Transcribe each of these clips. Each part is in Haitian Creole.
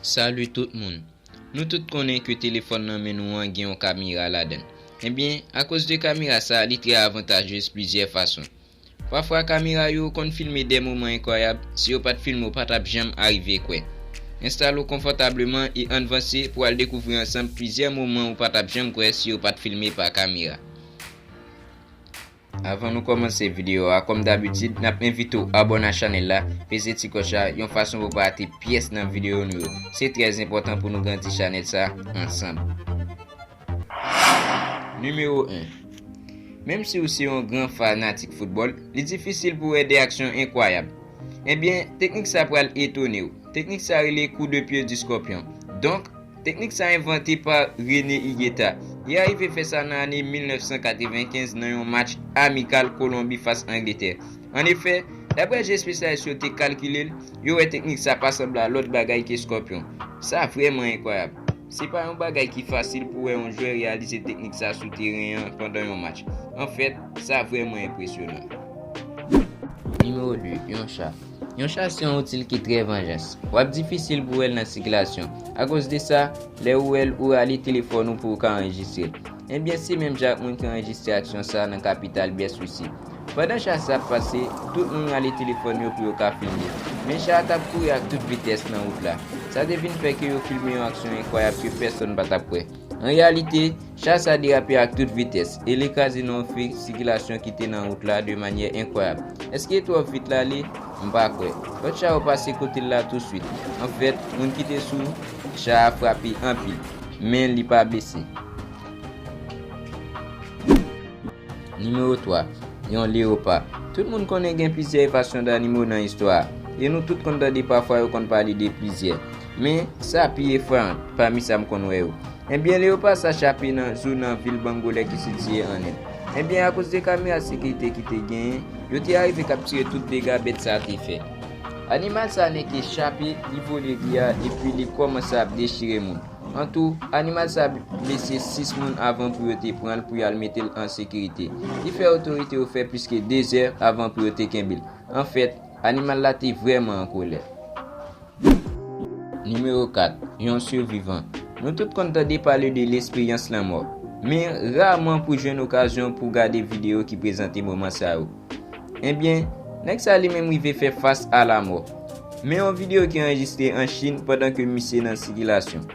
Salut tout moun Nou tout konnen ke telefòn nan men nou an gen yon kamera ladan l. Ebyen, akoz de kamera sa a li trè avantajez plizyè fason. Pafwa kamera yo konn filme dè moman enkwayab, si yo pat filme w pa tap janm arive kwè. Enstale w konfòtableman e ann vanse pou al dekouvri ansanm plizyè moman ou pa tap janm kwè si yo pat filme pa kamera. Avan nou kòmanse videyo a kòm dabitid nap envite w abòne a chanèl la, peze ti klòch la yon fason pou pa rate pyès nan videyo nou yo. Se trè enpòtan pou nou grandi chanèl sa ansanm. Nimewo 1, Menm si ou se yon gran fanatik foutbòl, li difisil pou wè 2 aksyon enkwayab. Ebyen, teknik sa pral etone w. Teknik sa rele kou de pye di skòpyon. Donk. Teknik sa envante pa René Higueta. Li arive fè sa nan ane 1995 nan yon match amikal Kolonbi fas Angletè. An efè, daprè jan espesyalis yo te kalkile l, yo wè teknik sa pa sanble a lòt bagay ke Scorpion. Sa vrèman enkwayab. Se pa yon bagay ki fasil pou wè yon jwè reyalize teknik sa sou teren an pandan yon match. Anfèt, sa vrèman enpresyonan. Nimewo 2, Yon cha. Yon chas se yon outil ki trè vanjans. W ap difisil pou w wè l nan sikilasyon. Akoz de sa, lè ou wè l, ou rale telefòn ou pou ou ka anrejistre l. Enben, se menm jan ak moun ki anrejistre aksyon sa a nan kapital byès Wisi. Pandan chas la ap pase, tout moun rale telefòn yo pou yo ka filme. Men cha a t ap kouri ak tout vitès nan wout la. Sa te vin fè ke yo filme yon aksyon enkwayab ke pèsonn pa t ap kwè. An reyalite, Cha sa derape ak tout vitès e li kraze nan yon fi sikilasyon ki te nan wout la de manyè enkwayab. Èske li twò vit l ale? M pa kwè. Lòt cha yo pase kote l la tousuit. Anfèt, moun ki te sou cha a frape anpil, men li pa blese. Nimewo 3, Yon leyopa. Tout moun konnen gen plizyè evasyon danimo nan istwa a, e nou tout konn tande pafwa yo konn pale de plizyè. Men, sa pi efrayan, pami sa m konn wè yo. Enbyen, leyopa sa chape nan zou nan vil Bangolè ki sitiye an End. Enbyen, akoz de kamera sekirite ki te genyen, yo te arive kaptire tout dega bèt sa te fè. Animal sa nèke chape, li vole ri a, epi li kòmanse ap dechire moun. An tou, animal sa blese 6 moun avan pou yo te pran l pou y al mete l an sekirite. Li fè otorite yo fè plis ke 2 zè avan pou yo te kenbe l. An fèt, animal la te vrèman an kolè. Nimewo 4, Yon sivivan. Nou tout konn tande pale de lesperyans lanmò. Men, raman pou jwenn okazyon pou gade videyo ki prezante moman sa yo. Ebyen, nèg sa li menm rive fè fas a lamò. Men yon videyo ki anrejistre an Chin pandan ke misye nan sikilasyon.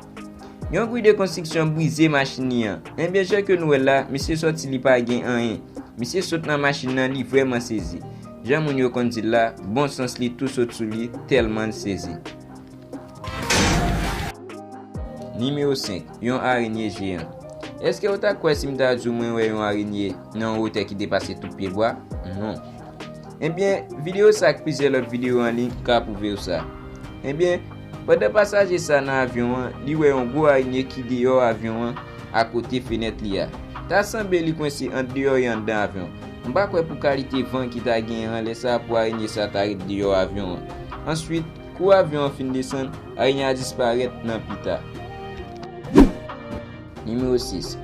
Yon gri de konstriksyon brize machin li an. Ebyen jan ke nou wèl la, misye sòti li pa gen anyen. Misye sot nan machin nan li vrèman sezi. Jan moun yo konn dil la, bon sans li tou sot sou li, tèlman l sezi. Nimewo 5, Yon arenye jeyan. Èske ou ta kwè si m ta di w mwen wè yon arenye nan yon wotè ki depase tout pyebwa? Non. Enben, videyo sa ak plizyè lòt videyo an liy ka pwouve w sa. Enben, pandan pasaje sa nan avyon an, li wè yon gwo arenye ki deyò avyon an akote fenèt li a. Ta sanble li kwense ant deyò e anndan avyon an. M pa kwè pou kalite van ki ta genyen an lè sa pou arenye sa ta ret deyò avyon an. Answit. Kou avyon an fin desann, arenyen a disparèt nan pita. Nimewo 6,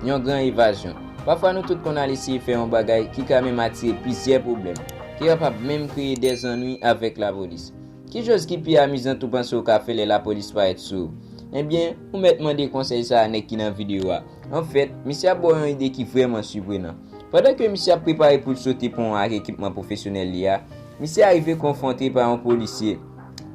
Yon gran evazyon. Pafwa nou tout konn al eseye fè yon bagay ki ka menm atire plizyè pwoblèm, ke yo kap menm kreye dè zannwi avèk lapolis. Ki choz ki pi amizant ou panse ou ka fè lè lapolis parèt sou ou? Ebyen, ou mèt mande konsèy sa a nèg ki nan videyo a. Anfèt, misye ap ba w yon ide ki vrèman siprenan. Pandan ke misye ap prepare pou l sote pon an ak ekipman pwofesyonèl li a, Misye arive konfwonte pa yon polisye.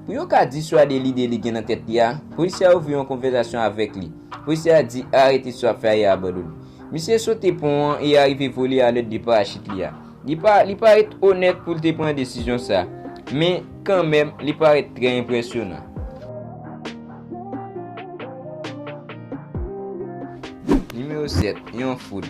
Pou yo ka diswade lide li gen nan tèt li a, polisye a ouvri yon konvèzasyon avèk li. Polisye a di, Arete sa w ap fè a e abandone. Misye sote pon an e arive vole alèd de parachit li a. Li pa, li parèt onèt pou l te pran desizyon sa a. Men, kanmenm, li parèt trè enpresyonan. Nimewo 7, Yon foul.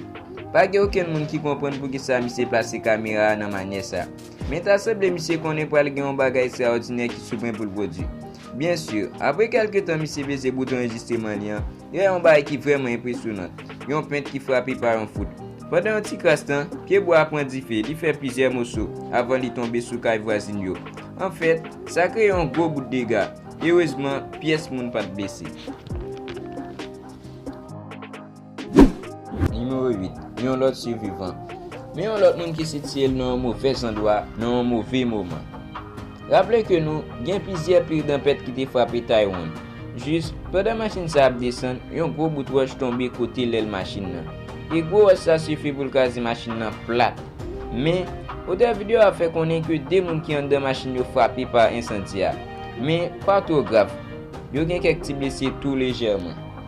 Pa gen okenn moun ki konprann poukisa misye plase kamera a nan manyè sa. Men ta sanble misye konnen pral gen yon bagay estraòdinè ki sou pwen pou l pwodui. Byen sur, apre kèlke tan misye peze bouton anrejistreman li an, yo wè yon bagay ki vrèman enpresyonant, yon pent ki frape pa yon foudre. Pandan yon ti kras tan, pye bwa a pran dife, li fè plizyè moso, avan li tonbe sou kay vwazin yo. Anfèt, sa kreye yon gwo bout dega. Erezman, pyès moun pa t blese. Nimewo 8, Yon lòt sivivan. Men yon lòt moun ki sitiye l nan yon move zandwa nan yon move moman. Raple ke nou gen plizyè pil tanpèt ki te frape Taiwan. Jis, pandan machin sa ap desann, yon gwo bout wòch tonbe kote lèl machin nan. E gwo wòch sa sifi pou l kraze machin nan plat. Men, otè video a fè konnen ke 2 moun ki anndan machin yo frape pa ensandi a. Men, pa twò grav. Yo gen kèk ti blese tou lejèman.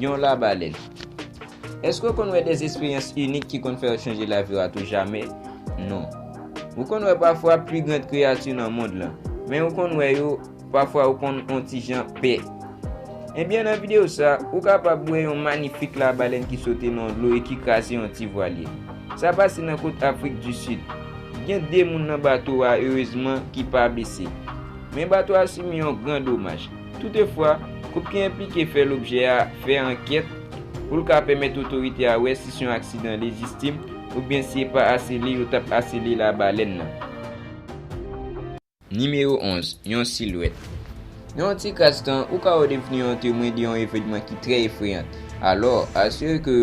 Yon labalèn. Èske w konn wè de esperyans inik ki konn fè yo chanje lavi w atoujamè? Non. Ou konn wè pafwa pi grand kreyati nan mond lan. Men ou konn wè yo, pafwa ou konn on ti jan pè. Ebyen nan videyo sa, ou kapab wè yon manifik labalèn ki sote nan dlo e ki kraze yon ti vwalye. Sa pase nan kot Afrik di Sid. Gen 2 moun nan bato a, erezman, ki pa blese. Men bato a sibi yon gran domaj. Toutefwa, koup ki enplike fè lobjè a fè ankèt pou l ka pèmèt otorite a wè si s yon aksidan lejistim oubyen si e pa asele yo t ap asele labalèn nan. Nimewo 11, Yon silwèt Nan yon ti kras tan, ou ka ou devni yon temwen de yon evènman ki trè efreyan. Alò, asire ke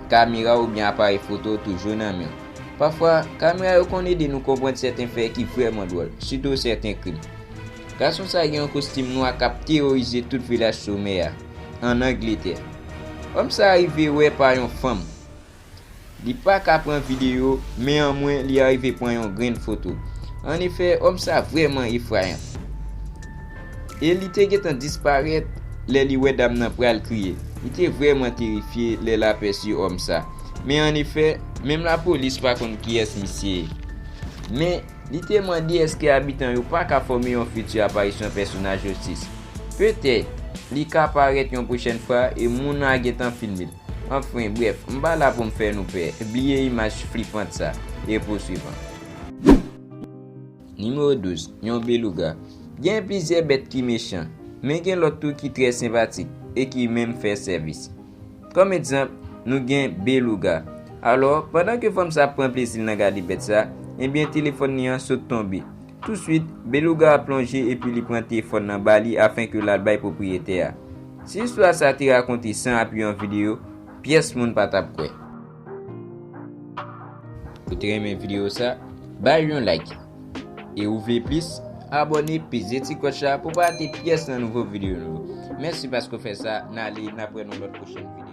kamera w oubyen aparèy foto w toujou nan men w. Pafwa, kamera yo konn ede nou konprann sèten fè ki vrèman dwòl, sitou sèten krim. Gason sa gen yon kostim nwa k ap teworize tout vilaj somè a, ann Angletè. Òm sa rive wè pa yon fanm. Li pa ka pran videyo, men anmwen li arive pran yon grenn foto. An efè, òm sa vrèman efrayan. E li te gentan disparèt lè li wè dam nan pral kriye. Li te vrèman terifye lè l apèsi òm sa. Men an efè, menm lapolis pa konn kiyès misye ye. Men, Li te mande èske abitan yo pa ka fòme yon fiti aparisyon pèsonaj Jotis. Petèt, li ka parèt yon pwochèn fwa e moun nan a gen tan filme l. Anfen, brèf, m pa la pou m fè nou pè, bliye imaj flipant sa, e pou swivan. Nimewo 12, Yon belouga. Gen plizyè bèt ki mechan, men gen lòt tou ki trè senpatik e ki menm fè sèvis. Kòm egzanp, nou gen Beluga. Alò, pandan ke fanm sa ap pran plezi l nan gade bèt sa, ebyen telefòn li an sot tonbe. Tousuit, Beluga a plonje epi li pran tefòn nan ba li afin ke l al bay pwopriyetè a. Si istwa sa te rakonte san api yon videyo, pyès moun pa t ap kwè. Ou te renmen video sa? Bay yon like! E ou vle plis? Abòne peze ti klòch la pou pa rate pyès nan nouvo video nou yo. Mèsi paske ou fè sa, n ale n ap wè nan lòt pwochèn video.